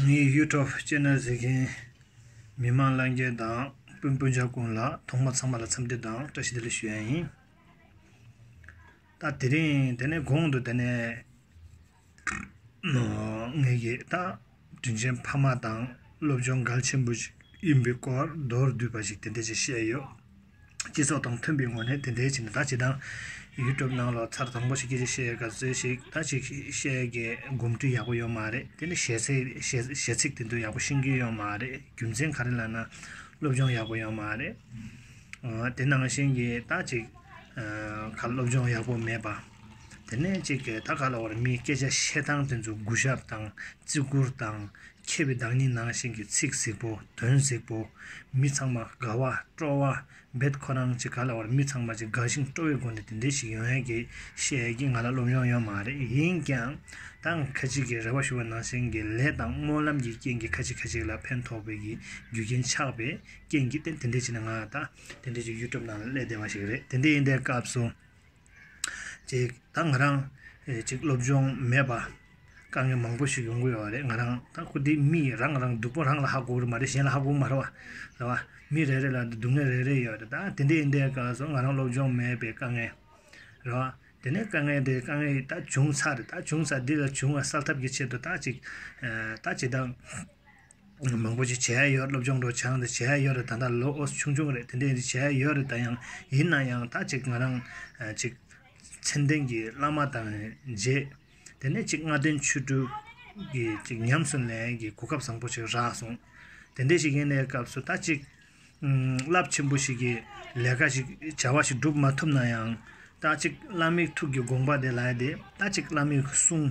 ངའི YouTube Channel གཟིགས་མཁན་མི་མང་བླ་རྒན་དང་སྤུན་སྤུན་ཆ་ཀུན་ལ་ཐོག་མ་ཚང་མ་ལ་འཚམས་འདྲི་དང་བཀྲ་ཤིས་བདེ་ལེགས་ཞུ་ཡ་ཡིན། ད་དེ་རིང་དེ་ནས་གོང་དུ་དེ་ནས་ངེད་ཀྱི་ད་དྲིན་ཆེན་ཕ་མ་དང་སློབ་སྦྱོང་གལ་ཆེན་པོ་ཞིག་ཡིན་པའི་སྐོར་མདོར་བསྡུས་པ་ཞིག་དེ་འདྲ་ཅིག་བཤད་ཡོད། སྤྱི་ཚོགས་དང་མཐུན་པའི་ངོས་ནས་དེ་འདྲའི་བྱས་ན་ད་ཇི་ལྟར་ཡུལ་གྲུབ་སྣང་ལོ་ཚར་དང་པོ་ཞིག་གིས་བཤད་དགའ་ཚོད་ཞིག་ད་ཅིག་བཤད་དགའི་སྒོམ་དུས་ཡག་པོ་ཡོད་མ་རེད་དེ་ནི་གཞས་ཚིག་དེ་ཚོ་ཡག་པོ་ཤེས་ཀྱི་ཡོད་མ་རེད་རྒྱུ་མཚན་ག་རེ་ལ་ན་སློབ་སྦྱོང་ཡག་པོ་ཡོད་མ་རེད་དེ་ནང་བཞིན་གྱི་ད་ཅིག་ག་ལ་སློབ་སྦྱོང་ཡག་པོ་མེད་པ་དེ་ནས་ཅིག་གི་ད་ག་ལ་བར་མིའི་སྐད་ཆ་བཤད་སྟངས་དེ་ཚོ་གུ་ཞབས་དང་བརྩི་བཀུར་དང་མཁས་པའི་བདག་ཉིད་ནང་བཞིན་གྱི་ཚིག་གཟིགས་པོ་དོན་གཟིགས་པོ། མི་ཚང་མ་དགའ་བ་སྤྲོ་བ་འབད་ཁོ་རང་གཅིག་ག་ལ་བར་མི་ཚང་མ་གཅིག་དགའ་ཞིང་སྤྲོ་བའི་སྒོ་ནས་དེ་འདྲའི་ཞིག་ཡོང་ཡ་གི་བཤད་ཡ་གི་ང་ལ་སློབ་སྦྱོང་ཡོད་མ་རེད་ཡིན་ཀྱང་ད་ང་ཁ་ཅིག་གི་རེ་བ་ཞུ་བ་ནང་བཞིན་གྱི་ལས་དང་སྨོན་ལམ་གྱི་རྐྱེན་གྱི་ཁ་ཅིག་ཁ་ཅིག་ལ་ཕན་ཐོག་པའི་གི་རྒྱུ་རྐྱེན་ཆགས་པའི་རྐྱེན་གྱི་ཏེ་དེ་འདྲའི་ཆེ་ན་ང་ད་དེ་འདྲའི་གྱི་ཡུལ་གྲུབ་ནང་ལ་སླེ་བདེ་བ་ཞིག་རེད་དེ་འདྲའི་ཡིན་དའི་སྐབས་སུ། ཅིག་ད་ང་རང་ཅིག་སློབ་སྦྱོང་མེད་པ་དཀའ་ངལ་མང་པོ་ཞིག་ཡོང་གི་ཡོད་པ་རེད་ང་རང་ད་ཁུ་དེ་མི་རང་རང་སྡུག་པོ་རང་ལ་ཧ་གོ་རུ་མ་རེད་གཞན་ལ་ཧ་གོ་མ་རུ་བ་རེད་བ་མི་རེ་རེ་ལ་སྡུག་བསྔལ་རེ་རེ་ཡོད་རེད་ད་དེ་འདའི་སྐར་སོང་ང་རང་སློབ་སྦྱོང་མེད་པའི་དཀའ་ངལ་རེད་བ་དེ་ནས་དཀའ་ངལ་དེ་དཀའ་ངལ་ཡིད་ད་བྱུང་ཚར་རེད་ད་བྱུང་ཚར་འདི་ལ་བྱུང་བ་སེལ་ཐབས་ཀྱི་ཆེད་དུ་ད་ཅིག་ད་ཇི་ལྟར་མང་པོ་ཞིག་བྱས་ཡོད་སློབ་སྦྱོང་སྒྲོག་སྦྱང་དེ་བྱས་ཡོད་རེད་ད་ལྟ་ལོ་ཆུང་ཆུང་རེད་དེ་འདྲས་ཞིག་བྱས་ཡོད་རེད་ད་ཡང་ཡིན་ན་ཡང་ད་ཅིག་ང་རང་ཅིག་མཚན་ལྡན་གྱི་བླ་མ་དང་མཇལ་དེ་ནས་ཅིག་སྔ་དོན་ཆོས་དྲུག་གི་ཅིག་ཉམས་སུ་ལེན་གྱི་གོ་སྐབས་བཟང་པོ་ཞིག་རག་སོང་དེ་འདྲས་ཞིག་ཡིན་ནའི་སྐབས་སུ་ད་ཅིག་རླབས་ཆེན་པོ་ཞིག་གི་ལས་ཀ་ཞིག་བྱ་བ་ཞིག་བསྒྲུབ་མ་ཐུབ་ན་ཡང་ད་ཅིག་བླ་མའི་ཐུགས་ཀྱི་དགོངས་པ་དེ་ལ་ཡིད་དེ་ད་ཅིག་བླ་མའི་གསུང་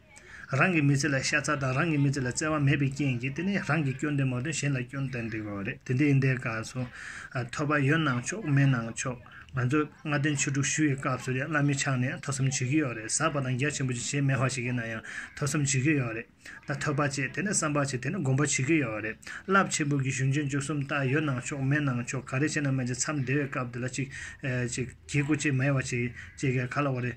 རང་གི་མི་ཚེ་ལ་ཤ་ཚ་དང་རང་གི་མི་ཚེ་ལ་བརྩེ་བ་མེད་པའི་རྐྱེན་གྱིས་དེ་ནི་རང་གི་སྐྱོན་དེ་མ་ཐོན་གཞན་ལ་སྐྱོན་ཏན་ཏིག་རོགས་རེད་དེ་འདི་ཡིན་དེ་དགའ་སོ། ཐོས་པ་ཡོད་གནང་ཆོག་མེད་གནང་ཆོག་ང་ཚོས་ལྔ་སྟོན་ཆོས་དྲུག་ཞུ་བའི་སྐབས་སུ་ཡང་བླ་མའི་ཕྱག་ནས་ཐོས་བསམ་བྱེད་ཀྱི་ཡོད་རེད་ཟབ་པ་དང་རྒྱ་ཆེན་པོ་ཅིག་བྱེད་མེད་བ་ཞིག་ཡིན་ན་ཡང་ཐོས་བསམ་བྱེད་ཀྱི་ཡོད་རེད་ད་ཐོས་པ་བྱས་དེ་ནས་བསམ་པ་བྱས་དེ་ནས་སྒོམ་པ་བྱེད་ཀྱི་ཡོད་རེད་རླབས་ཆེན་པོ་གི་གཞུང་ཆེན་བཅུ་གསུམ་ལྟར་ཡོད་གནང་ཆོག་མེད་གནང་ཆོག་ག་རེ་བྱས་ནའི་མན་ཆད་མཚམས་འདས་བའི་སྐབས་དེ་ལ་ཅིག་ཅིག། གྱི་སྐུ་ཅིག་མ་ཡེ་བ་ཅིག་ཅེས་ཀྱི་ག་ལ་བ་རེད།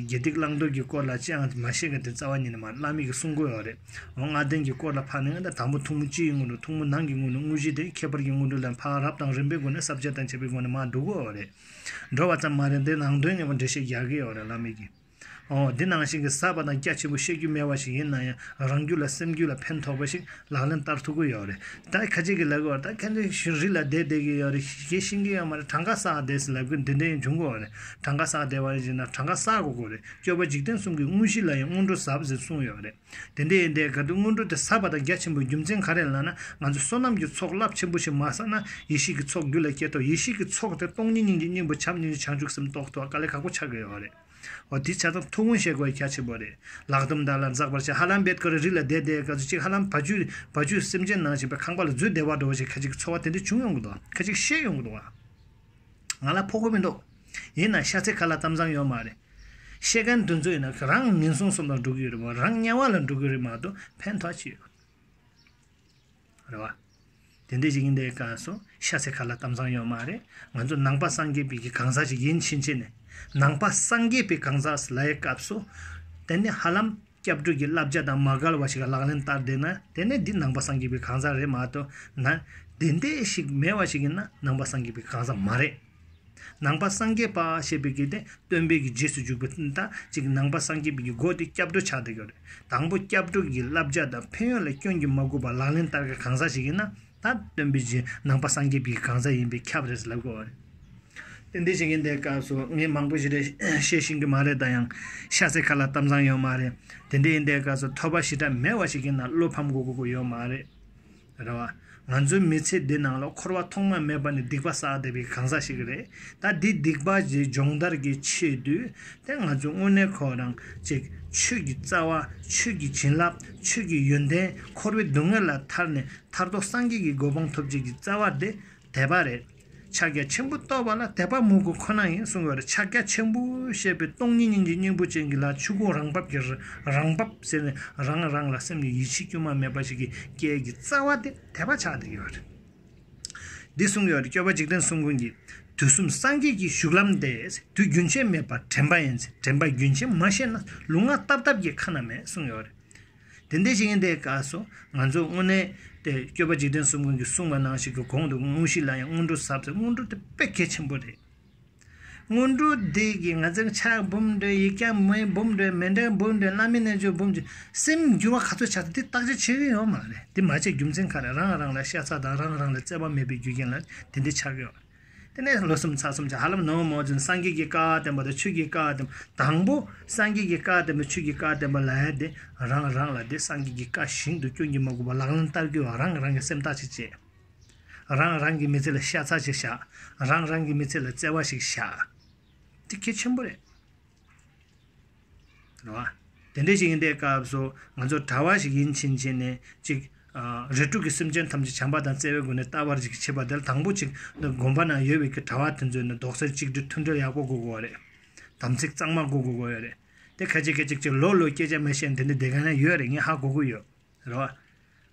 དགེ་སྡིག་བླང་དོར་གྱི་སྐོར་ལ་ཅི་ཡང་མ་ཤེས་ཀྱི་དེ་རྩ་བ་ཉིད་ནས་མ་བླ་མེད་ཀྱི་གསུང་དགོས་བ་རེད། འོ་ལྔ་ལྡན་གྱི་སྐོར་ལ་འཕགས་ནས་ཨ་མདའ་དང་པོ་ཐུང་མོ་སྤྱིའི་སྔོན་འགྲོ་ཐུང་མོ་ནང་གི་སྔོན་འགྲོ་དངོས་གཞི་དེ་ཁྱད་པར་གྱི་སྔོན་འགྲོ་ལས་འཕགས་རབ་དང་རིམ་པའི་སྒོ་ནས་ཟབ་ཆ་དང་འཆད་པའི་སྒོ་ནས་མ་བསྡུ་དགོས་བ་རེད། འགྲོ་བ་ཙམ་མ་རེད་འདིར་ནང་དོན་ངེས་པར་འགྲེལ་བཤད་རྒྱག་གི་ཡོད་རེད་བླ་མེད་ཀྱི། འདི་ནང་བཞིན་གྱི་གསར་པ་དང་སྐྱ་ཆེན་པོ་བཤད་རྒྱུ་སྨྲས་བ་ཞིག་ཡིན་ན་ཡང་རང་རྒྱུད་ལ་སེམས་རྒྱུད་ལ་ཕན་ཐོགས་པ་ཞིག་ལག་ལེན་བསྟར་ཐུབ་གི་ཡོད་རེད་ད་ཁ་ཅིག་གིས་ལབ་གི་འོ་ད་ཁྱེད་ཚོས་ཞུ་རིག་ལ་བསྡད་བསྡད་ཀྱི་ཡོད་རེད་ཞེས་ཤིང་གི་ཡོད་མ་རེད་གྲངས་ཀ་བསགས་བསྡད་ཟེར་ལབ་གི་འདི་འདྲ་ཡང་འབྱུང་གི་འོ་རེད་གྲངས་ཀ་བསགས་བསྡད་བ་རེད་ཅེ་ན་གྲངས་ཀ་བསགས་དགོས་གི་རེད་སྤྱོད་པ་འཇིག་རྟེན་གསུམ་གྱི་དངོས་གཞི་ལ་ཡང་སྔོན་འགྲོ་ཟབ་ཟེར་གསུངས་ཡོད་རེད་དེ་འདི་ཡིན་དེ་ག་དུས་སྔོན་འགྲོ་དེ་གསར་པ་དང་སྐྱ་ཆེན་པོའི་རྒྱུ་མཚན་ག་རེད་ལབ་ན་ང་ཚོ་བསོད་ནམས་ཀྱི་ཚོགས་རླབས་ཆེན་པོ་ཞིག་མ་བསགས་ན་ཡེ་ཤེས་ཀྱི་ཚོགས་རྒྱུད་ལ་སྐྱེ་ཐོག་ཡེ་ཤེས་ཀྱི་ཚོགས་དེ་སྟོང་ཉིད་སྙིང་རྗེ་སྙིང་པོ་བྱམས་སྙིང་རྗེ་བྱང་ཆུབ་སེམས་རྟོགས་ཐུབ་པ་དཀའ་ལས་ཁག་པོ་ཆགས་གི་ཡོད་རེད། ཨོ་དེ་ཆ་ཚང་ཐུགས་དགོངས་བཞེས་དགོས་ཡ་ཁྱད་ཆེན་པོ་རེད། ལག་གཏུམ་དར་ལ་འཛག་པར་བྱེད་ཧ་ལམ་བེད་ཀ་རུ་རི་ལ་བསྡད་བསྡད་ག་ཚོད་ཅིག་ཧ་ལམ་བ་ཅུ་བ་ཅུ་སེམས་ཅན་ནང་བཞིན་པའི་ཁང་པ་ལ་འཛུལ་བདེ་བར་འགྲོ་བ་བཞིན་ཁ་ཅིག་གི་འཚོ་བ་དེ་འདྲ་བྱུང་ཡོང་གི་འདུག་ཁ་ཅིག་ཤེས་ཡོང་གི་འདུག་ཨང། ང་ལ་ཕོག་གི་མི་འདུག། ཡིན་ནང་ཤ་ཚའི་ཁ་ལ་གཏམ་བཟང་ཡོད་མ་རེད། ཤེས་མཁན་འདུ་འཛོ་ཡིན་ན་རང་ངན་སོང་གསུམ་ལ་འགྲོ་གི་ཡོད་རེད་མ་རང་དམྱལ་བ་ལ་འགྲོ་གི་རེད་མ་གཏོགས་ཕན་ཐོག་ཅི་ཡོད། རེད་བ། དེ་འད་ཅིག་ཡིན་དེ་ཀ་སོ་ཤ་ཚའི་ཁ་ལ་གཏམ་བཟང་ཡོད་མ་རེད་ང་ཚོ་ནང་པ་སངས་རྒྱས་པའི་གི་གང་ཟག་ཅིག་ཡིན་ཕྱིན་ཆད་ནས་ནང་པ་སངས་རྒྱས་པའི་གང་ཟག་སི་ལའི་སྐབས་སུ་དེ་ནི་ཧ་ལམ་སྐྱབས་འགྲོས་ཀྱི་བསླབ་བྱ་དང་མ་གལ་བ་ཞིག་ག་ལག་ལེན་བསྟར་བསྡད་ན་དེ་ནི་འདི་ནང་པ་སངས་རྒྱས་པའི་གང་ཟག་རེད་མ་གཏོགས་ན་དེ་འད་ཞིག་མེད་བ་ཞིག་ཡིན་ན་ནང་པ་སངས་རྒྱས་པའི་གང་ཟག་མ་རེད། ནང་པ་སངས་རྒྱས་པ་ཞེས་པའི་གི་དེ་སྟོན་པའི་གི་རྗེས་སུ་འཇུག་པའི་ད་ཅིག་ནང་པ་སངས་རྒྱས་པའི་གི་སྒོ་དེ་སྐྱབས་འགྲོ་ཆགས་སྡང་གི་རེད་དང་པོ་སྐྱབས་འགྲོ་གི་བསླབ་བྱ་དང་ཕན་ཡོན་ལ་སྐྱོན་གྱིས་མ་གོས་པར་ལག་ལེན་བསྟར་མཁན་གང་ཟག་ཞིག་ཡིན་ན་ད་སྟོན་པའི་གཞི་ནང་པ་སངས་རྒྱས་པའི་གི་གང་ཟག་ཡིན་པས་ཁྱབ་རེད་ཟེར་ལབ་དགོས་བ་རེད། དེ་འདྲའི་བྱེད་མཁན་དེ་སྐབས་སུ་ངས་མང་པོ་ཞིག་རེད་བཤད་བཞིན་གི་མ་རེད་ད་ཡང་ཤ་ཚའི་ཁ་ལ་གཏམ་བཟང་ཡོད་མ་རེད་དེ་འདྲའི་ཡིན་དེ་སྐབས་སུ་ཐོས་པ་ཞེ་དྲག་མེད་བ་ཞིག་གིས་ན་བློ་ཕམ་གོ་དགོས་ཀྱི་ཡོད་མ་རེད། རེད་བ། ང་ཚོའི་མི་ཚེ་འདི་ནང་ལ་འཁོར་བ་ཐོག་མ་མེད་པ་ནི་སྡིག་པ་བསགས་བསྡད་པའི་གང་ཟག་ཞིག་རེད། ད་འདི་སྡིག་པ་འདི་སྦྱོང་བརྡར་གྱི་ཆེད་དུ། དེ་ང་ཚོས་དངོས་གནས་ཁོ་རང་གཅིག་ཆོས་ཀྱི་རྩ་བ། ཆོས་ཀྱི་བྱིན་རླབས། ཆོས་ཀྱི་ཡོན་ཏན་འཁོར་བའི་སྡུག་བསྔལ་ལ་ཐར་ནས་ཐར་ཐོར་སངས་རྒྱས་ཀྱི་གོ་འཕང་ཐོབ་བྱེད་ཀྱི་རྩ་བ་དེ་དད་པ་རེད། ཕྱག་རྒྱ་ཆེན་པོ་བསྟོད་པ་ལ་དད་པ་མོས་གུས་ཁོ་ན་ཡིན་གསུང་བའི་ཕྱག་རྒྱ་ཆེན་པོ་ཞེས་པའི་སྟོང་ཉིད་སྙིང་རྗེ་སྙིང་པོ་ཅན་གྱི་ལ་ཆོས་སྐུ་རང་བབས་ཀྱི་རང་བབས་ཟེར་ནས་རང་རང་ལ་སེམས་ཀྱི་ཡིད་ཆེས་དཀྱུས་མ་མེད་པ་ཞིག་གིས་སྐྱེས་ཀྱི་རྩ་བ་སྟེ་དད་པ་ཆགས་འདི་ཡོད། འདི་གསུངས་ཡོད་སྐྱོབ་པ་འཇིག་རྟེན་གསུམ་ཀུན་གྱི། དུས་གསུམ་སངས་རྒྱས་ཀྱི་བཞུགས་ལམ་སྟེ། དུས་རྒྱུན་ཆད་མེད་པར་དྲན་པ་ཡིན། དྲན་པ་རྒྱུན་ཆད་མ་ཤེས་ན་ལུས་ངག་རྟབ་རྟབ་ཀྱི་ཁ་ན་མེད་གསུངས་ཡོད། དེ་འདི་ཞིག་ཡིན་ཏེ་ཀ་སོགས་ང་ཚོས་དངོས་གནས་ཏེ་སྤྱོད་པ་འཇིག་རྟེན་གསུམ་ཀུན་གྱི་སྲུང་བ་ནང་ཞིག་གི་གོང་དུ་དངོས་གཞི་ལ་ཡང་སྔོན་འགྲོ་ཟབ་ཟེར་སྔོན་འགྲོ་དེ་དཔེ་གལ་ཆེན་པོ་རེད། སྔོན་འགྲོ་འདི་ཀྱིས་ང་ཚོའི་ཆགས་འབུམ་འགྲོས་ཡིག་བརྒྱ་མའི་འབུམ་འགྲོས་མེ་འདྲའི་འབུམ་འགྲོས་བླ་མེད་རྣལ་འབྱོར་འབུམ་གྱི་སེམས་འགྱུར་བ་ག་ཚོད་ཆགས་ཏེ་དེ་བརྟག་དཔྱད་བྱེད་ཀྱི་ཡོད་མ་རེད་དེ་མ་བྱས་རྒྱུ་མཚན་ག་རེ་རང་རང་ལ་ཤ་ཚ་དང་རང་རང་ལ་བརྩེ་བ་མེད་པའི་རྒྱུ་རྐྱེན་ལ་དེ་འདི་ཆགས་ཡོད། དེ་ནས་ལོ་གསུམ་ཚར་གསུམ་གྱི་ཧ་ལམ་ནངས་མོ་བཞིན་སངས་རྒྱས་ཀྱི་བཀའ་བསྟན་པ་དང་ཆོས་ཀྱི་བཀའ་བསྟན་པ་དང་པོ་སངས་རྒྱས་ཀྱི་བཀའ་བསྟན་པ་ཆོས་ཀྱི་བཀའ་བསྟན་པ་ལ་དེ་རང་རང་ལ་དེ་སངས་རྒྱས་ཀྱི་བཀའ་བཞིན་དུ་སྐྱོན་གྱིས་མ་གོས་པར་ལག་ལེན་བསྟར་རྒྱུ་རང་རང་གི་སེམས་ཐག་ཅིག་བཅད། རང་རང་གི་མི་ཚེ་ལ་ཤ་ཚ་ཞིག་བཞག་རང་རང་གི་མི་ཚེ་ལ་བརྩེ་བ་ཞིག་བཞག། འདི་གལ་ཆེན་པོ་རེད། དེ་འདྲ་ཞིག་ཡིན་པའི་སྐབས་སུ་ང་ཚོ་གྲྭ་བ་ཞིག་ཡིན་ཕྱིན་ཆད་ནས་ཅིག་རེ་དྲུག་གི་སེམས་ཅན་ཐམས་ཅད་བྱམས་པ་དང་བརྩེ་བའི་སྒོ་ནས་ལྟ་བར་ཅིག་བྱེད་པ་དེ་ལ་དང་པོ་ཅིག་འདི་དགོན་པ་ན་ཡོད་པའི་གྲྭ་བ་དེ་ཚོས་ནི་རྡོག་རྩ་གཅིག་སྒྲིལ་མཐུན་སྒྲིལ་ཡག་པོ་དགོས་དགོས་བ་རེད། དམ་ཚིག་གཙང་མ་དགོས་དགོས་བ་རེད། དེ་གལ་ཆེ་གལ་ཆེ་གཅིག་ལོ་ལོ་སྐད་ཆ་མི་བཤད་འདི་འདྲའི་སྡེ་ག་ན་ཡོད་རེད་ངས་ཧ་གོ་གི་ཡོད་རེད་བ།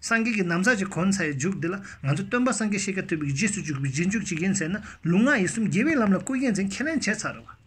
སངས་རྒྱས་ཀྱི་ནམ་མཁའ་ཅིག་གོ་ན་ས་ཡི་འཇུག་འདི་ལ་ང་ཚོ་སྟོན་པ་སངས་རྒྱས་ཤེས་རྒྱ་ཐོས་པའི་རྗེས་སུ་འཇུག་པའི་རྗེས་འཇུག་ཅིག་ཡིན་ཟེར་ན་ལུང་ངག་ཡིད་གསུམ་རྒྱལ་བའི་ལམ་ལ་བཀོད་རྒྱལ་མཚན་ཁས་ལེན་བྱས་ཚར་བ།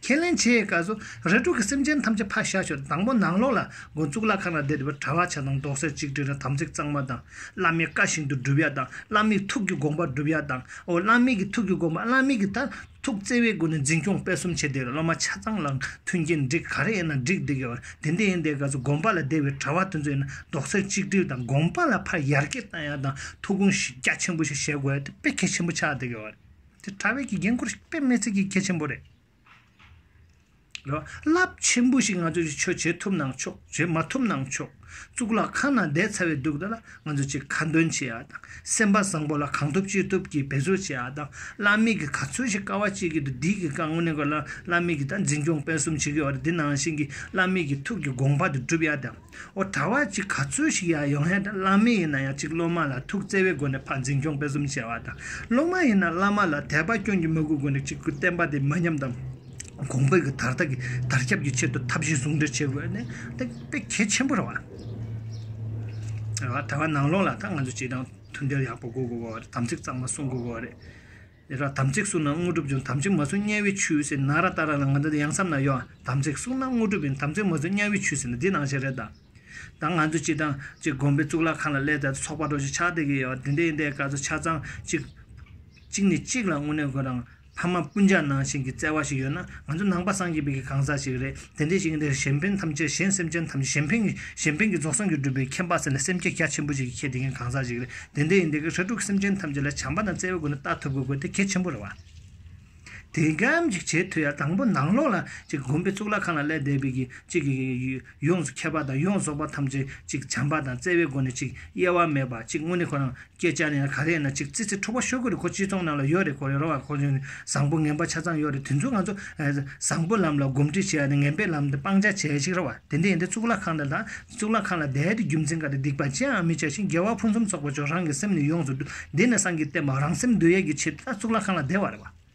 ཁས་ལེན་བྱས་ཀ་སོ། རེ་དྲུག་གི་སེམས་ཅན་ཐམས་ཅད་ཕར་བཞག་ཞོར་དང་པོ་ནང་ལོགས་ལ་སྒོ་གཙུག་ལག་ཁང་ན་བསྡད་པའི་གྲྭ་བ་བྱ་དང་མདོག་གསེར་གཅིག་དྲིལ་ན་དམ་ཚིག་གཙང་མ་དང། བླ་མའི་བཀའ་བཞིན་དུ་སྒྲུབ་ཡ་དང་བླ་མའི་ཐུགས་ཀྱི་དགོངས་པ་སྒྲུབ་ཡ་དང། ཨོ་བླ་མེད་ཀྱི་ཐུགས་ཀྱི་དགོངས་པ་བླ་མེད་ཀྱི་ལྟར། ཐུགས་བརྩེ་བའི་སྒོ་ནས་འཛིན་སྐྱོང་སྤེལ་གསུམ་བྱས་ཏེ་སློབ་མ་ཆ་ཚང་ལའང་མཐུན་རྐྱེན་འགྲིག་ག་རེ་ཡིན་ན་འགྲིག་འདི་གའི་བར་དེ་འདི་ཡིན་དེ་ག་ཚོད་དགོངས་པ་ལ་བདེ་བའི་གྲྭ་བ་དེ་ཚོ་ཡིན་ན་རྡོག་རྩ་གཅིག་སྒྲིལ་དང་དགོངས་པ་ལ་ཕར་ཡར་སྐྱེད་བཏང་ཡག་དང་ཐུགས་དགོངས་གཞི་རྒྱ་ཆེན་པོ་ཞིག་བཞེས་དགོས་དེ་དཔེ་གལ་ཆེན་པོ་ཆགས་འདི་གའི་བར་དེ་གྲྭ་བས་ཀྱི་འགན་ཁུར་དཔེ་མེད་ཚིག་གི་གལ་ཆེན་པོ་རེད། རླབས་ཆེན་པོ་ཞིག་ང་ཚོས་ཀྱི་ཆོས་བྱེད་ཐུབ་ནང་ཆོག་བྱེད་མ་ཐུབ་ནང་ཆོག་གཙུག་ལག་ཁང་ནང་བསྡད་ཚར་བའི་དུག་རྡོ་ལ་ང་ཚོས་ཀྱི་ཁ་འདོན་བྱེད་ཡ་དང་སེམས་པ་བཟང་པོ་ལ་གང་ཐུབ་ཅི་ཐུབ་ཀྱིས་འབད་རྩོལ་བྱེད་ཡ་དང་བླ་མེད་ཀྱི་ག་ཚོད་ཞིག་དཀའ་བ་སྤྱད་ཀྱི་འདུག་འདིའི་གི་དཀའ་ངོ་ནས་དགོས་ལ་བླ་མེད་ཀྱི་ད་འཛིན་སྐྱོང་སྤེལ་གསུམ་བྱེད་ཀྱི་ཡོད་རེད་འདི་ནང་བཞིན་གྱི་བླ་མེད་ཀྱི་ཐུགས་ཀྱི་དགོངས་པ་དེ་བསྒྲུབ་ཡ་དང། འོ་ད་བར་གྱི་ག་ཚོད་ཞིག་ཡང་ཡོང་ཡ་དང་བླ་མེད་ཡིན་ན་ཡང་གཅིག་སློབ་མ་ལ་ཐུགས་བརྩེ་བའི་སྒོ་ནས་ཕར་འཛིན་སྐྱོང་སྤེལ་གསུམ་བྱས་བ་དང་སློབ་མ་ཡིན་ན་བླ་མ་ལ་དད་པ་སྐྱོན་གྱི་མོས་གུས་སྒོ་ནས་གཅིག་གུ་བསྟན་པ་དེ་མི་ཉམས་དང། གོང་འཕེལ་གྱི་དར་ཐག་གི་དར་ཁྱབ་ཀྱི་ཆེད་དུ་ཐབས་ཤེས་ཟུང་འབྲེལ་བྱེད་དགོས་ནི་དེ་དཔེ་གལ་ཆེན་པོ་རེད་བ། དེ་བ་ད་བར་ནང་ལོགས་ལ་ད་ང་ཚོས་བྱེད་སྟངས་མཐུན་སྦྱར་ཡག་པོ་གོ་དགོས་བ་རེད་དམ་ཚིག་གཙང་མ་སྲུང་དགོས་བ་རེད། ཨེ་ར་དམ་ཚིག་བསྲུང་ན་དངོས་གྲུབ་འབྱུང་དམ་ཚིག་མ་བསྲུང་དམྱལ་བའི་ཆུའི་ཟེར་ན་ར་ཏཱ་ར་ལ་ང་འདི་ཡང་བསམ་ན་ཡོད་ཨ། དམ་ཚིག་བསྲུང་ན་དངོས་གྲུབ་ཡིན་དམ་ཚིག་མ་བསྲུང་དམྱལ་བའི་ཆུའི་ཟེར་ན་འདི་ནང་བཞིན་རེད་ད། ད་ང་ཚོས་ཅིག་དང་ཅིག་དགོན་པའི་གཙུག་ལག་ཁང་ལ་སླེབས་ཏེ་ཚོགས་པ་གྲོ་ཞིག་ཕྱག་འདེབས་ཀྱི་ཡོད་དེ་འདྲའི་འདའི་སྐར་ཚོགས་ཆ་ཚང་གཅིག། གཅིག་ནས་གཅིག་ལ་དངོས་གནས་དགོན་རང་ཕ་མ་སྤུན་ཆ་ནང་བཞིན་གྱི་བརྩེ་བ་ཞིག་ཡོད་ན་ང་ཚོ་ནང་པ་སངས་རྒྱས་པའི་གང་ཟག་ཞིག་རེད། དེ་འདྲའི་ཞིང་འདིར་གཞན་ཕན་ཐམས་ཅད་གཞན་སེམས་ཅན་ཐམས་ཅད་གཞན་ཕན་གཞན་ཕན་གྱི་རྫོགས་སངས་རྒྱས་བསྒྲུབ་པའི་མཁྱེན་པ་ཟེར་ན་སེམས་ཁྱེད་རྒྱ་ཆེན་པོ་ཞིག་གིས་ཁྱེད་དེ་མཁན་གང་ཟག་ཞིག་རེད་དེ་འདྲའི་ཡིན་དེ་གར་ཧྲལ་དྲུག་གི་སེམས་ཅན་ཐམས་ཅད་ལ་བྱམས་པ་དང་བརྩེ་བའི་སྒོ་ནས་ལྟ་ཐུབ་དགོས་དགོས་དེ་གལ་ཆེན་པོ་རེད་བ། དེ་འགའམ་ཅིག་བྱེད་ཐུབ་ཡ་དང་པོ་ནང་ལོགས་ལ་ཅིག་བསྒོམས་པས་གཙུག་ལག་ཁང་ལ་སླེབས་བསྡད་པས་ཅིག་གིས་ཡོངས་སུ་ཁྱབ་པ་དང་ཡོངས་རྫོགས་པ་ཐམས་ཅད་ཅིག་བྱམས་པ་དང་བརྩེ་བའི་སྒོ་ནས་ཅིག་གཡེལ་བ་མེད་པ་ཅིག་དངོས་གནས་ཁོ་རང་སྐད་ཆ་ནི་ག་རེ་ན་ཅིག་ཙི་ཙི་འཁྲུག་པ་ཤོད་ཀྱི་རེད་ཁོ་སྤྱི་ཚོགས་ནང་ལ་ཡོད་རེད་ཁོ་རེ་རོ་ཨ་ཁོ་ཚོ་ནི་བཟང་པོ་ངན་པ་ཆ་ཚང་ཡོད་རེད་དེ་ཚོ་ང་ཚོ་བཟང་པོའི་ལམ་ལ་སྒོམ་སྒྲིག་བྱས་ནས་ངན་པའི་ལམ་དེ་སྤང་བྱ་བྱས་ཤིག་རེད་བ་དེ་འདྲ་ཡིན་དེ་གཙུག་ལག་ཁང་དེ་དང་གཙུག་ལག་ཁང་ལ་བསྡད་དེ་རྒྱུ་མཚན་ག་རེ་སྡིག་པ་ཅི་ཡང་མི་བྱ་ཞིང་རྒྱལ་བ་ཕུན་སུམ་ཚོགས་པ་མཆོག་རང་གི་སེམས་ནས་ཡོངས་སུ་བསྡུས་ནས་སངས་ཀྱིས་བསྟན་པ་རང་སེམས་བསྡུ་ཡས་ཀྱི་ཆེད་དུ་ད་གཙུག་ལག་ཁང་ལ་བསྡད་བ་རེད་བ།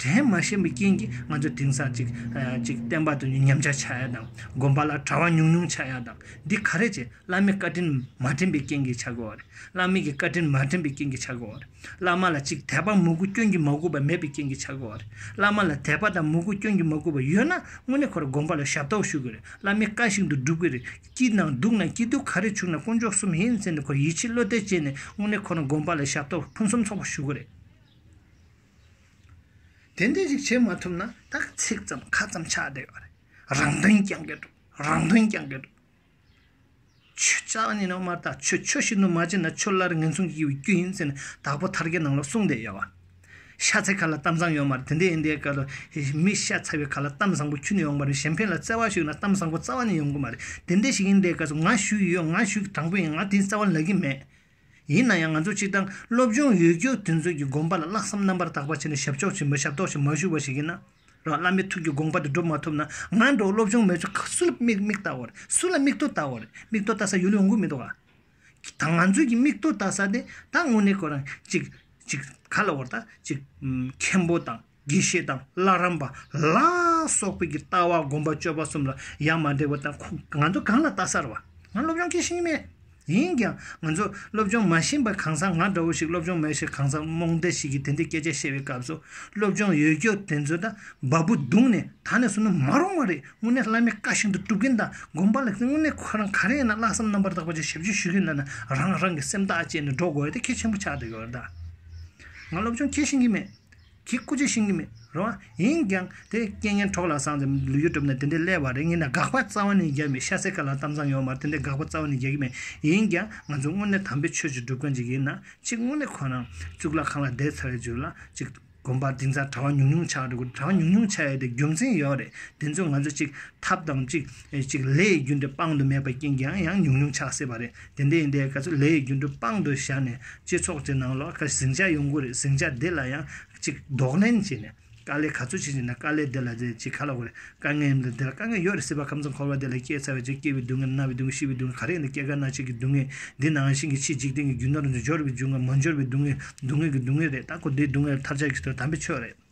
དྲན་མ་ཞན་པའི་རྐྱེན་གྱིས་ང་ཚོས་དེང་སང་ཅིག་ཅིག་བསྟན་པ་དུ་ཉམས་ཆག་ཆགས་ཡག་དང་སྒོམ་པ་ལ་དྲ་བ་ཉུང་ཉུང་ཆགས་ཡག་དང་འདི་ག་རེ་བྱས་བླ་མའི་བཀའ་དྲིན་མ་དྲན་པའི་རྐྱེན་གྱིས་ཆགས་དགོས་བ་རེད་བླ་མེད་ཀྱི་བཀའ་དྲིན་མ་དྲན་པའི་རྐྱེན་གྱིས་ཆགས་དགོས་བ་རེད་བླ་མ་ལ་ཅིག་དད་པ་མོས་གུས་སྐྱོན་གྱིས་མ་གོས་པ་མེད་པའི་རྐྱེན་གྱིས་ཆགས་དགོས་བ་རེད་བླ་མ་ལ་དད་པ་དང་མོས་གུས་སྐྱོན་གྱིས་མ་གོས་པ་ཡོད་ན་དངོས་གནས་ཁོ་ར་སྒོམ་པ་ལ་ཞབས་ཏོག་ཞུ་དགོས་རེད་བླ་མའི་བཀའ་བཞིན་དུ་སྒྲུབ་དགོས་རེད་སྐྱིད་ན་སྡུག་ན་སྐྱིད་སྡུག་ག་རེ་བྱུང་ན་དཀོན་མཆོག་གསུམ་ཡིན་ཟེར་ནས་ཁོ་ར་ཡིད་ཆེས་བློ་གཏད་བྱས་ནས་དངོས་གནས་ཁོ་རང་སྒོམ་པ་ལ་ཞབས་ཏོག་ཕུན་སུམ་ཚོགས་པ་ཞུ་དགོས་རེད། དེ་འདྲ་ཞིག་བྱེད་མ་ཐུབ་ན་ཐག་ཚིག་ཙམ་ཁ་ཙམ་ཆགས་བསྡད་ཡོད་རེད། རང་དོན་རྐྱང་གི་འདུག་རང་དོན་རྐྱང་གི་འདུག། ཆུ་རྩ་བ་ནི་ནོར་མ་ལྟ་ཆུ་ཆུ་ཞིག་ནུ་མ་བྱས་ན་ཆུ་སླར་ངན་སོང་གི་ཡུལ་བསྐྱོད་ཡིན་ཟེར་ནས་དྭགས་པོ་ཐར་གའི་ནང་ལ་གསུངས་བསྡད་ཡོད། ཤ་ཚའི་ཁ་ལ་གཏམ་བཟང་ཡོད་མ་རེད་དེ་འདྲ་ཡིན་དེའི་སྐབས་ལ་མི་ཤ་ཚ་བའི་ཁ་ལ་གཏམ་བཟང་པོ་ཁྱུ་ནས་ཡོང་པ་རེད་གཞན་ཕན་ལ་བརྩེ་བ་ཞིག་ཡོད་ན་གཏམ་བཟང་པོ་རྩ་བ་ནས་ཡོང་གི་མ་རེད་དེ་འདྲ་ཞིག་ཡིན་དེའི་སྐབས་སུ་ང་ཞུས་ཡོད་ང་ཞུས་དྲང་པོ་ཡིན་ང་དེའི་རྩ་བ་ལག་གི་མེད། ཡིན་ན་ཡང་ང་ཚོ་སྤྱིར་བཏང་སློབ་སྦྱོང་ཡོད་རྒུ་དེ་ཚོའི་གི་དགོངས་པ་ལ་བརླག་བསམ་རྣམ་པར་དག་པ་བྱས་ནས་ཞབས་ཕྱོགས་ཀྱི་མི་ཞབས་ཏོག་ཞིག་མ་ཞུ་བ་ཞིག་ཡིན་ན། རང་བླ་མའི་ཐུགས་ཀྱི་དགོངས་པ་དེ་སྒྲུབ་མ་ཐུབ་ན་ང་འདྲ་བོ་སློབ་སྦྱོང་མེད་ཚོ་སུ་ལ་མིག་མིག་བལྟ་བ་རེད་སུ་ལ་མིག་ཐོ་བལྟ་བ་རེད་མིག་ཐོ་བལྟ་ས་ཡོད་ལུས་འོང་གི་མི་འདུག་ཨ། ད་ང་ཚོས་ཀྱི་མིག་ཐོ་བལྟ་ས་དེ་ད་དངོས་གནས་ཁོ་རང་གཅིག་གཅིག་ག་ལ་བོར་ད་གཅིག་མཁན་པོ་དང། དགེ་བཤེས་དང་བླ་རམས་པ་ལ་སོགས་པའི་ལྟ་བ་སྒོམ་པ་སྤྱོད་པ་གསུམ་ལ་ཡང་མ་འགྲིག་པ་དང་ཁོང་ང་ཚོ་གང་ལ་ལྟ་སར་བ་ང་སློབ་སྦྱོང་གི་ཤེས་མེད་ཡིན་ཀྱང་ང་ཚོ་སློབ་སྦྱོང་མ་ཤེས་པའི་གང་ཟག་ང་འདྲ་བོ་ཞིག་སློབ་སྦྱོང་མེད་ཕྱིར་གང་ཟག་རྨོངས་དད་ཞིག་གིས་དེ་འདྲའི་སྐད་ཆ་བཤད་པའི་སྐབས་སུ་སློབ་སྦྱོང་ཡོད་རྒྱུ་དེ་ཚོ་དང་འབའ་འབུ་བརྡུངས་ནས་ད་ནས་བཟུང་ན་མ་རུང་བ་རེད་དངོས་གནས་བླ་མའི་བཀའ་བཞིན་དུ་སྒྲུབ་མཁན་དང་སྒོམ་པ་ལ་དངོས་གནས་ཁོ་རང་ག་རེ་ཡིན་ན་བླ་བསམ་རྣམ་པར་དག་པ་ཅིག་ཞབས་ཕྱི་ཞུ་གི་འདོད་ན་རང་རང་གི་སེམས་ཐག་བཅད་ནས་འགྲོ་དགོས་ཡོད་དེ་གལ་ཆེན་པོ་ཆགས་འདུག་ཡོད་ད། ང་སློབ་སྦྱོང་ཁྱེད་བཞིན་གྱི་མེད། ཁྱེད་སྐུ་ཅི་ཤེས་ངེས་མེད་རེད་བ། ཡིན་ཀྱང། དེ་རྐྱེན་ངན་གྲོགས་ལ་སངས་ཙམ་ལུས་ཡོད་གྲུབ་ན་དེ་འདྲའི་སླད་བ་རེ་ངེས་ན་དགག་པ་རྩ་བ་ནས་རྒྱག་མི་ཤ་ཟད་ག་ལ་གཏམ་བཟང་ཡོང་མར་དེ་འདྲའི་དགག་པ་རྩ་བ་ནས་རྒྱག་གི་མེད། ཡིན་ཀྱང། ང་ཚོ་དངོས་གནས་དམ་པའི་ཆོས་ཀྱི་སྒྲུབ་མཁན་ཅིག་ཡིན་ན། གཅིག་དངོས་གནས་ཁོ་རང། གཙུག་ལག་ཁང་ལ་བསྡད་ཚར་བའི་རྗེས་ལ། གཅིག། དགོན་པར་དེང་སང་གྲྭ་བ་ཉུང་ཉུང་ཆགས་འགྲོ་གི་གྲྭ་བ་ཉུང་ཉུང་ཆགས་ཡོད་དེ་རྒྱུ་མཚན་ཡོད་རེད་དེ་ཚོས་ང་ཚོ་གཅིག། ཐབས་དང་གཅིག། ལས་ཀྱི་རྒྱུན་དེ་སྤང་དུ་མེད་པ་རྐྱེན་ཀྱང་ཡང་ཉུང་ཉུང་ཆགས་སྲིད་པ་རེད། དེ་འདྲ་ཡིན་དེ་ག་ཚོད་ལས་ཡི་རྒྱུ་འབྲུ་དཔང་དུ་བཞག་ནས་སྤྱི་ཚོགས་ཀྱི་ནང་ལོག་ཁ་ཟིང་ཆ་ཡོང་གི་རེད་ཟིང་ཆ་དེ་ལ་ཡང་ཅིག་ལྡོག་ལན་བྱས་ནས་དཀའ་ལས་ག་ཚོད་བྱེད་ཀྱི་འདུག་དཀའ་ལས་དེ་ལ་དེ་ཅིག་ག་ལ་དགོས་རེད་དཀའ་ངལ་ཡིན་དུས་དེ་ལ་དཀའ་ངལ་ཡོད་རེད་སྲིད་པ་ཁམས་གསུམ་འཁོར་བ་དེ་ལ་སྐྱེས་ཚར་བའི་ཚེ་སྐྱེ་བའི་སྡུག་བསྔལ་ན་བའི་སྡུག་བསྔལ་ཤི་བའི་སྡུག་བསྔལ་ག་རེ་ཡིན་དུས་སྐྱེ་རྒ་ན་འཆི་གི་སྡུག་བསྔལ་འདི་ནང་བཞིན་གྱི་ཕྱིའི་འཇིག་རྟེན་གྱི་རྒྱུ་ནོར་འབྱོར་བའི་རྒྱུ་དང་མ་འབྱོར་བའི་སྡུག་བསྔལ་སྡུག་བསྔལ་གྱི་སྡུག་བསྔལ་རེད་ད་ཁོ་དེའི་སྡུག་བསྔལ་ལ་ཐབས་བྱ་གི་ཚོད་དམ་པའི་ཆོས་རེད།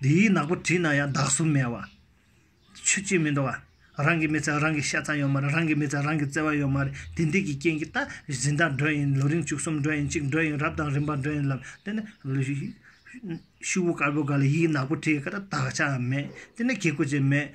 འདི་ཡིས་ནག་པོ་བྲིས་ན་ཡང་བདག་གཟུགས་མེད་བ། ཆོས་ཅི་མི་འགྲོ་བ། རང་གི་མི་ཚེར་རང་གི་ཤ་ཚ་ཡོད་མ་རེད་རང་གི་མི་ཚེར་རང་གི་བརྩེ་བ་ཡོད་མ་རེད་དེ་འདི་གི་རྐྱེན་གྱིས་ད་གཟི་མདངས་འགྲོ་ཡིན་ལོ་རིང་བཅུ་གསུམ་འགྲོ་ཡིན་གཅིག་འགྲོ་ཡིན་རབ་དང་རིམ་པ་འགྲོ་ཡིན་ལབ་དེ་ནི། ཤུ་བོ་དཀར་པོ་འགའ་ལ་ཡིས་ནག་པོ་བྲིས་ཀ་ད་དགག་བྱའང་མེད་དེ་ནི་གེ་ཁུ་ཅན་མེད་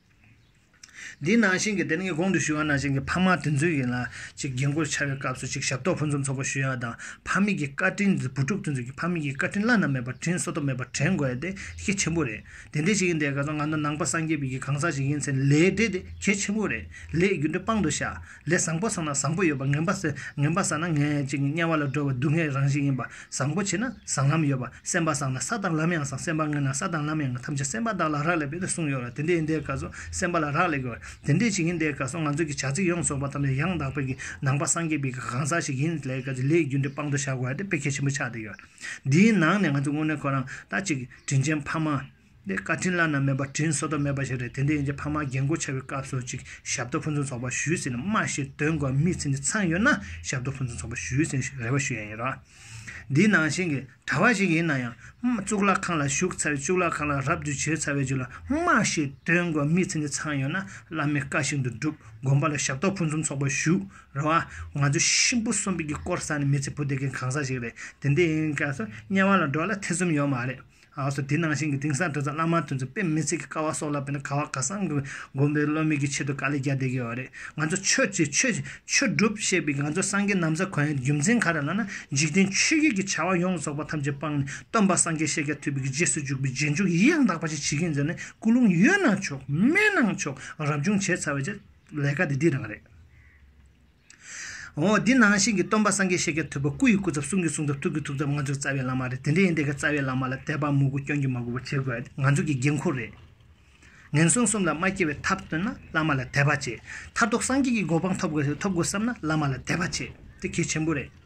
འདི་ནང་བཞིན་གྱི་དེ་ནས་ངས་གོང་དུ་ཞུས་པ་ནང་བཞིན་གྱི་ཕ་མ་དེ་ཚོས་ཡིན་ལ་གཅིག་རྒྱན་གོས་འཆའ་བའི་སྐབས་སུ་གཅིག་ཞབས་ཏོག་ཕུན་སུམ་ཚོགས་པ་ཞུ་ཡག་དང་ཕ་མེས་ཀྱི་བཀའ་དྲིན་འདི་བུ་ཕྲུག་དེ་ཚོས་ཀྱི་ཕ་མེས་ཀྱི་བཀའ་དྲིན་བླ་ན་མེད་པར་དྲིན་གཟོ་ཐབས་མེད་པར་དྲན་དགོས་དེ་གལ་ཆེན་པོ་རེད་དེ་འདྲས་ཞིག་ཡིན་དེ་ག་ཚོད་ང་ཚོ་ནང་པ་སངས་རྒྱས་པའི་གི་གང་ཟག་ཞིག་ཡིན་ཚེ་ལས་འབྲས་དེ་གལ་ཆེན་པོ་རེད་ལས་རྒྱུ་འབྲས་དཔང་དུ་བཞག་ལས་བཟང་པོ་བཟང་ན་བཟང་པོ་ཡོད་པ་ངན་པ་ཟེར་ངན་པ་བཟང་ན་ངན་ཅིག་དམྱལ་བ་ལ་འགྲོ་བའི་སྡུག་བསྔལ་རང་བཞིན་ཡིན་པ་བཟང་པོ་བྱས་ན་བཟང་ལམ་ཡོད་པ་སེམས་པ་བཟང་ན་ས་དང་ལམ་ཡང་བཟང་སེམས་པ་དངོས་ན་ས་དང་ལམ་ཡང་དངོས་ཐམས་ཅད་སེམས་པ་བདག་ལ་རག་ལས་པས་ན་གསུངས་ཡོད་ལ་དེ་འདྲ་ཡིན་དེའི་སྐབས་སུ་སེམས་པ་ལ་རག་ལས་དགོས་པ་དེ་འདྲ་ཞིག་ཡིན་དེའི་སྐབས་སུ་ང་ཚོས་ཀྱི་བྱ་ཚིག་ཡོངས་རྫོགས་པ་ཐམས་ཅད་ཡང་དག་པའི་གི་ནང་པ་སངས་རྒྱས་པའི་གི་གང་ཟག་ཞིག་ཡིན་ལས་སྐབས་སུ་ལས་རྒྱུ་འབྲས་དཔང་དུ་བཞག་དགོས་པ་དེ་དཔེ་གལ་ཆེན་པོ་ཆགས་བསྡད་ཡོད་འདིའི་ནང་ནས་ང་ཚོས་དངོས་གནས་ཁོ་རང་ལྟ་ཅིག་དྲིན་ཅན་ཕ་མ། འདི་བཀའ་དྲིན་བླ་ན་མེད་པ་དྲིན་གཟོ་དོགས་མེད་པ་ཞིག་རེད་དེ་འདྲའི་ཡིན་ཅེས་ཕ་མ་རྒན་བཀུར་བྱ་བའི་སྐབས་སུ་ཅིག་ཞབས་ཏོག་ཕུན་ཚོགས་ཚོགས་པ་ཞུས་ཟིན་སྨྲ་ཞིག་དོན་གོ་མི་ཚེ་འདི་ཚང་ཡོད་ན་ཞབས་ཏོག་ཕུན་ཚོགས་ཚོགས་པ་ཞུས་ཟིན་ཞེས་རེ་བ་ཞུ་ཡ་ཡིན་རོགས། འདི་ནང་བཞིན་གྱི་གྲྭ་བ་ཞིག་ཡིན་ན་ཡང། གཙུག་ལག་ཁང་ལ་བཞུགས་ཚར་བའི་གཙུག་ལག་ཁང་ལ་རབ་ཏུ་བྱེད་ཚར་བའི་རྗེས་ལ་སྨྲ་ཞིག་དོན་གོ་མི་ཚེ་འདི་ཚང་ཡོད་ན་བླ་མའི་བཀའ་བཞིན་དུ་བསྒྲུབ་དགོན་པ་ལ་ཞབས་ཏོག་ཕུན་ཚོམ་ཚོགས་པ་ཞུ་རེ་བ། ང་ཚོ་གཤིན་པོ་གསོན་པོ་ཀྱི་དཀོར་ཟ་ནི་མི་ཚེ་བུ་སྡེ་མཁན་གང་ཟག་ཞིག་རེད་དེ་འདྲའི་ཡིན་སྐབས་སུ་དམྱལ་བ་ལ་འགྲོ་ལ་ཐེ་ཚོམ་ཡོད་མ་རེད། ཨ་སོ་དེ་ནང་བཞིན་གྱི་དེང་སང་བྲོ་ཚ་བླ་མར་ཐོན་ཚུལ་དཔེ་མི་ཚིག་གི་ཀ་བ་སོགས་ལ་བལྟས་ན་ཁ་བ་ཁ་སང་གི་དགོན་པའི་བློ་མིག་གི་ཆེད་དུ་དཀའ་ལས་རྒྱག་བསྡད་ཀྱི་ཡོད་རེད་ང་ཚོ་ཆོས་བྱེད་ཆོས་ཆོས་སྒྲུབ་བཤད་པའི་ང་ཚོ་སངས་རྒྱས་ནམ་བཟའ་གོན་ཡ་རྒྱུ་མཚན་ག་རེ་ལ་ན་འཇིག་རྟེན་ཆོས་བརྒྱད་ཀྱི་བྱ་བ་ཡོངས་རྫོགས་པ་ཐམས་ཅད་སྤངས་ནས་སྟོན་པ་སངས་རྒྱས་ཤེས་རྒྱ་ཐོས་པའི་གི་རྗེས་སུ་འཇུག་པའི་རྗེས་འཇུག་ཡི་ཡང་དག་པ་ཞིག་བྱེད་ཀྱིན་ཟེར་ནས་སྐུ་ལུང་ཡོད་ན་ཆོག་མེད་ན་ཆོག་རབ་བྱུང་བྱས་ཚར་བའི་ལས་ཀ་དེ་འདི་རང་རེད། འོ་འདི་ནང་བཞིན་གྱི་སྟོན་པ་སངས་རྒྱས་བཤད་རྒྱ་ཐུབ་པ་སྐུ་ཡི་སྐུ་ཚབ་གསུང་གི་གསུང་ཚབ་ཐུགས་ཀྱི་ཐུགས་ཚབ་ང་ཚོ་གི་རྩ་བའི་བླ་མ་རེད་དེ་འདྲ་ཡིན་དེ་ག་རྩ་བའི་བླ་མ་ལ་དད་པ་མོས་གུ་སྐྱོན་གྱི་མ་དགོས་པ་བྱེད་དགོས་ང་ཚོ་གི་དགེ་འཁོར་རེད། ངན་སོང་གསུམ་ལ་མ་སྐྱེ་བའི་ཐབས་སྟོན་ན་བླ་མ་ལ་དད་པ་བྱེད་མཐར་ཐུག་སངས་རྒྱས་ཀྱི་གོ་འཕང་ཐོབ་དགོས་ཐོབ་དགོས་བསམ་ན་བླ་མ་ལ་དད་པ་བྱེད་དེ་གལ་ཆེན་པོ་རེད།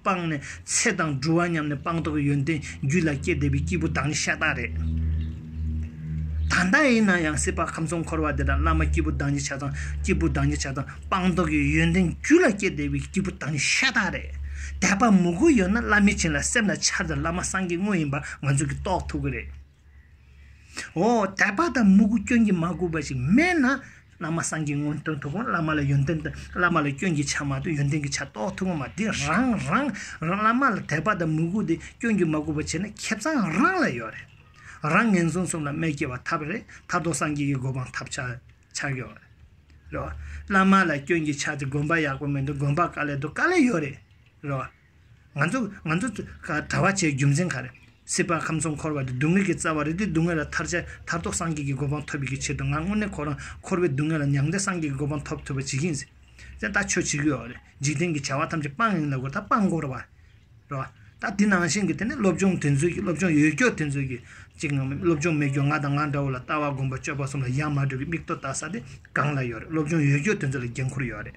སྤངས་ནས་ཚེ་དང་འགྲུལ་བ་སྙམ་ནས་སྤངས་རྟོགས་ཀྱི་ཡོན་ཏན་རྒྱུད་ལ་སྐྱེས་བསྡད་པའི་སྐྱེས་བུ་དག་ནི་ཤ་སྟག་རེད། ད་ལྟ་ཡིན་ན་ཡང་སྲིད་པ་ཁམས་གསུམ་འཁོར་བ་འདི་དག་བླ་མ་སྐྱེས་བུ་དག་ཉིད་ཆགས་དང་སྐྱེས་བུ་དག་ཉིད་ཆགས་དང་སྤངས་རྟོགས་ཀྱི་ཡོན་ཏན་རྒྱུད་ལ་སྐྱེས་བསྡད་པའི་སྐྱེས་བུ་དག་ནི་ཤ་སྟག་རེད། དད་པ་མོས་གུས་ཡོད་ན་བླ་མའི་བྱིན་ལ་སེམས་ལ་འཆར་དུ་བླ་མ་སངས་རྒྱས་དངོས་ཡིན་པ་ང་ཚོས་ཀྱིས་རྟོགས་ཐུབ་ཀྱི་རེད། འོ་དད་པ་དང་མོས་གུས་སྐྱོན་གྱིས་མ་གོས་པ་ཞིག་མེད་ན། བླ་མ་སངས་རྒྱས་མངོན་སྟོན་ཐུབ་བམ་བླ་མ་ལ་ཡོན་ཏན་དང་བླ་མ་ལ་སྐྱོན་གྱི་ཆ་མ་གཏོགས་ཡོན་ཏན་གྱི་ཆ་རྟོགས་ཐུབ་བམ་མ་འདི་རང་རང་བླ་མ་ལ་དད་པ་དང་མོས་གུས་དེ་སྐྱོན་གྱིས་མ་གོས་པར་བྱས་ན་ཁྱེད་ཚང་རང་ལ་ཡོད་རེད་རང་ངན་སོང་གསུམ་ལ་སྨད་སྐྱེལ་བ་ཐབས་རེད་ཐར་ཐོར་སངས་རྒྱས་ཀྱི་གོ་འཕང་ཐབས་ཆག་ཆག་ཡོད་རེད་རེད་བ། བླ་མ་ལ་སྐྱོན་གྱི་ཆ་དེ་དགོན་པ་ཡག་པོ་མེད་དུ་དགོན་པ་དཀའ་ལས་དུ་དཀའ་ལས་ཡོད་རེད་རེད་བ། ང་ཚོ་ང་ཚོ་གྲྭ་བ་ཆེའི་རྒྱུ་མཚན་ག་རེ། སྲིད་པ་ཁམས་གསུམ་འཁོར་བ་འདི་སྡུག་བསྔལ་གྱི་རྩ་བ་རེད་དེ་སྡུག་བསྔལ་ལ་ཐར་ཆེད་ཐར་ཐོག་སངས་རྒྱས་ཀྱི་གོ་འཕང་ཐོབ་ཡི་གི་ཆེད་དུ་ང་དངོས་གནས་ཁོ་རང་འཁོར་བའི་སྡུག་བསྔལ་ལ་མྱང་སྟེ་སངས་རྒྱས་ཀྱི་གོ་འཕང་ཐོབ་ཐུབ་པ་བྱེད་ཀྱིན་ཟིན། ད་ལྟ་ཆོས་བྱེད་ཀྱི་འོག་རེད་འཇིག་རྟེན་གྱི་བྱ་བ་ཐམས་ཅད་སྤང་ཡིན་ལ་གོ་ད་སྤང་འགོར་བ་རེད། ད་དེ་ནང་བཞིན་གྱི་དེ་ནས་སློབ་སྦྱོང་དེ་ཚོའི་སློབ་སྦྱོང་ཡོད་སྐྱོར་དེ་ཚོའི་ཅིག་ངང་སློབ་སྦྱོང་མེད་སྐྱོར་ང་དང་ང་འདྲ་བོ་ལ་ལྟ་བ་སྒོམ་པ་སྤྱོད་པ་གསུམ་ལ་ཡ་མ་གྲུབ་ཀྱི་མིག་ལྟོ་ལྟ་ས་དེ་གང་ལ་ཡོད་རེད་སློབ་སྦྱོང་ཡོད་སྐྱོར་དེ་ཚོ་ལ་འགན་ཁུར་ཡོད་རེད།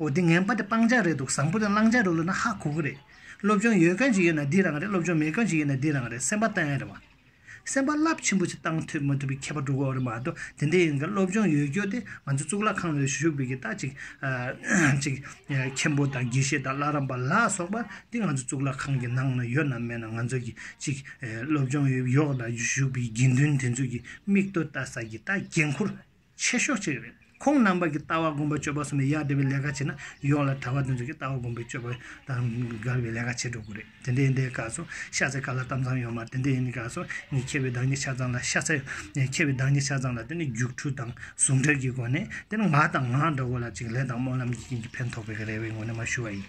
འོ་དེ་ངན་པ་དེ་སྤང་བྱ་རེད་འདུག་བཟང་པོ་དེ་བླང་བྱ་རུ་བླུགས་ན་ཧ་གོ་གི་རེད། སློབ་སྦྱོང་ཡོད་མཁན་ཞིག་ཡོད་ན་འདི་རང་རེད་སློབ་སྦྱོང་མེད་མཁན་ཞིག་ཡོད་ན་འདི་རང་རེད་སེམས་པ་གཏན་ཡོད་རེད་བ། སེམས་པ་རླབས་ཆེན་པོ་ཞིག་གཏང་ཐུབ་མ་ཐུབ་པའི་ཁྱད་པར་འགྲོ་གི་འོག་རེད་མ་གཏོགས་དེ་འདྲ་ཡིན་གྱི་སློབ་སྦྱོང་ཡོད་རྒྱུ་དེ་ང་ཚོ་གཙུག་ལག་ཁང་ནས་བཞུགས་དགོས་ཀྱི་རྟགས་གཅིག་གཅིག་མཁན་པོ་དང་དགེ་བཤེས་དང་བླ་རམས་པ་ལ་སོགས་པ་འདི་ང་ཚོ་གཙུག་ལག་ཁང་གི་ནང་ན་ཡོད་ནམ་མེད་ནམ་ང་ཚོ་གི་གཅིག་སློབ་སྦྱོང་ཡོག་ལ་བཞུགས་པའི་དགེ་འདུན་དེ་ཚོ་གི་མིག་ལྟོས་ལྟ་ས་ཀྱི་རྟགས་འགན་ཁུར། ཆེ་ཤོས་གཅིག་རེད། ཁོང་རྣམ་པ་གྱི་ལྟ་བ་དགོངས་པའི་སྤྱོད་པ་སོགས་ནི་ཡར་འབྲེལ་བའི་ལས་ཀ་བྱས་ན་ཡོངས་ལ་གྲྭ་བ་དེ་ཚོ་གི་ལྟ་བ་དགོངས་པའི་སྤྱོད་པ་དང་འགལ་བའི་ལས་ཀ་བྱེད་འགྲོ་དགོས་རེད། དེ་འདྲའི་འདའི་སྐབས་སུ་ཤ་ཚའི་ཀ་ལ་གཏམ་ཚང་ཡོང་མར་དེ་འདྲའི་ཡིན་སྐབས་སུ་ངས་མཁས་པའི་བདག་ཉིད་ཆ་ཚང་ལ་ཤ་ཚའི། མཁས་པའི་བདག་ཉིད་ཆ་ཚང་ལ་དེ་ནི་རྒྱུགས་འཕྲུལ་དང་ཟུང་འབྲེལ་གྱི་སྒོ་ནས་དེ་ནི་ང་དང་ང་འདྲ་བོ་ལ་ཅིག་ལས་དང་སྨོན་ལམ་གྱི་རྐྱེན་གྱིས་ཕན་ཐོགས་པའི་རེ་བའི་ངོས་ནས་མ་ཞུ་བ་ཡིན།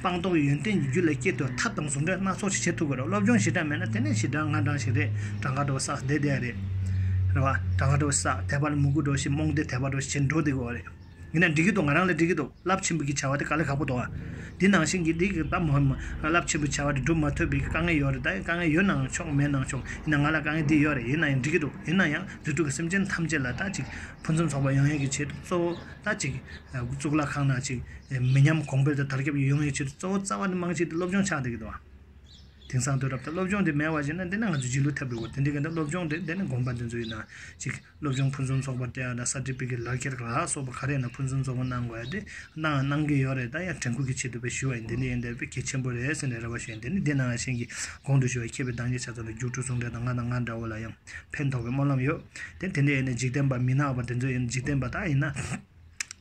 སྤངས་རྟོགས་ཡོན་ཏན་གྱི་རྒྱུད་ལ་སྐྱེ་དུས་ཐབས་དང་ཟུང་འབྲེལ་སྣ་ཚོགས་ཤིག་བྱེད་ཐུབ་དགོས་རོགས་སློབ་སྦྱོང་ཞེ་དྲགས་མེད་ན་དེ་ནས་ཕྱིར་དྲང་ང་དྲང་ཞིག་རེད་དྲང་ཁ་དྲོ་སགས་བསྡད་བསྡད་རེད། རེད་བ། དྲང་ཁ་དྲོ་སགས་དད་པར་མུ་གུ་དྲོ་ཞིག་རྨོངས་དད་དད་པ་དྲོ་ཞིག་བྱེད་འགྲོ་བསྡད་དགོས་བ་རེད། ཡིན་ན་འགྲིག་གི་འདུག་ང་རང་ལ་འགྲིག་གི་འདུག་རླབས་ཆེན་པོ་གི་བྱ་བ་དེ་དཀའ་ལས་ཁག་པོ་འདུག་བ། འདི་ནང་བཞིན་གྱི་འདི་གི་ད་མུ་མུ་རླབས་ཆེན་པོའི་བྱ་བ་དེ་སྒྲུབ་མ་ཐུབ་པའི་དཀའ་ངལ་ཡོད་རེད་ད་ཡིན་དཀའ་ངལ་ཡོད་ནའང་ཆོག་མེད་ནའང་ཆོག་ཡིན་ན་ང་ལ་དཀའ་ངལ་འདི་ཡོད་རེད་ཡིན་ན་ཡང་འགྲིག་གི་འདུག་ཡིན་ན་ཡང་རྫུ་འཕྲུལ་གྱི་སེམས་ཅན་ཐམས་ཅད་ལ་ད་ཅིག་ཕུན་སུམ་ཚོགས་པ་ཡང་ཡང་གི་ཆེད་དུ་གཙོ་བོ་ད་ཅིག་གཙུག་ལག་ཁང་ན་ཅིག་མི་ཉམས་གོང་འཕེལ་དང་དར་ཁྱབ་ཀྱི་ཡོང་བའི་ཆེད་དུ་གཙོ་བོ་རྩ་བ་ནི་དམངས་ཆེད་དུ་སློབ་སྦྱོང་ཆགས་བསྡད་ཀྱི་འདུག་དེང་སང་དུས་རབས་དང་སློབ་སྦྱོང་དེ་མེད་བ་ཞིག་ན་འདི་ན་ང་ཚོ་སྒྱིད་ལུག་ཐེབས་དགོས་གོ་དེ་འདྲའི་གནད་སློབ་སྦྱོང་དེ་འདི་ན་དགོངས་པ་འདི་ཚོ་ཡིན་ན་ཅིག་སློབ་སྦྱོང་ཕུན་སུམ་ཚོགས་པ་སྟེ་ད་སར་ཏི་ཕི་ཀེད་ལག་ཁྱེར་ལ་སོགས་པ་ག་རེ་ཡིན་ན་ཕུན་སུམ་ཚོགས་པོ་གནང་དགོས་ཏེ་གནང་ཡང་གནང་གི་ཡོད་རེད་ད་ཡང་དྲན་སྐུལ་གྱི་ཆེད་དུ་བས་ཞུ་བ་ཡིན་འདི་འདྲ་ཡིན་འདི་འདྲ་བས་གལ་ཆེན་པོ་རེད་ཟེར་ནས་རེ་བ་ཞུ་ཡིན་དེ་ནི་འདི་ནང་བཞིན་གྱི་གོང་དུ་ཞུ་བའི་མཁས་པའི་གདངས་ཀྱི་ཆ་ཚང་དུ་རྒྱུགས་སྤྲོད་ཟུང་འབྲེལ་དང་ང་དང་ང་འདྲ་བོ་ལ་ཡང་ཕན་ཐོགས་པའི་སྨོན་ལམ་ཡོད་དེ་འདི་འདྲ་ཡིན་ན་འཇིག་རྟེན་པ་མི་ནག་པ་འདི་ཚོ་ཡིན་འཇིག་རྟེན་པ་དག་ཡིན་ན།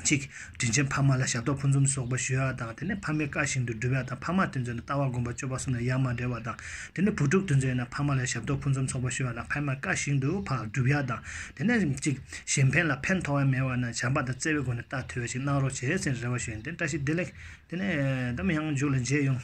ཅིག། དྲིན་ཆེན་ཕ་མ་ལ་ཞབས་ཏོག་ཕུན་སུམ་ཚོགས་པ་ཞུས་པ་དང་དེ་ནས་ཕ་མའི་བཀའ་བཞིན་དུ་སྒྲུབ་པ་དང་ཕ་མ་དུས་མཛོད་ན་ལྟ་བ་སྒོམ་པ་སྤྱོད་པ་གསུམ་ལ་ཡ་མ་འབྲེལ་བ་དང། དེ་ནས་བུ་ཕྲུག་དུས་མཛོད་ན་ཕ་མ་ལ་ཞབས་ཏོག་ཕུན་སུམ་ཚོགས་པ་ཞུས་པ་དང་ཕ་མའི་བཀའ་བཞིན་དུ་བག་སྒྲུབ་ཡ་དང། དེ་ནས་ཅིག། གཞན་ཕན་ལ་ཕན་ཐོགས་བ་མེད་པ་ན་བྱམས་པ་དང་བརྩེ་བའི་སྒོ་ནས་རྟ་ཐོད་བ་ཞིག་གནང་རོགས་བྱས་ཟེར་ནས་རེ་བ་ཞུས་ནས་དེ་ནས་བཀྲ་ཤིས་བདེ་ལེགས། དེ་ནས་འདམ་གཡང་མཇུག་ལ་མཇལ་ཡོང།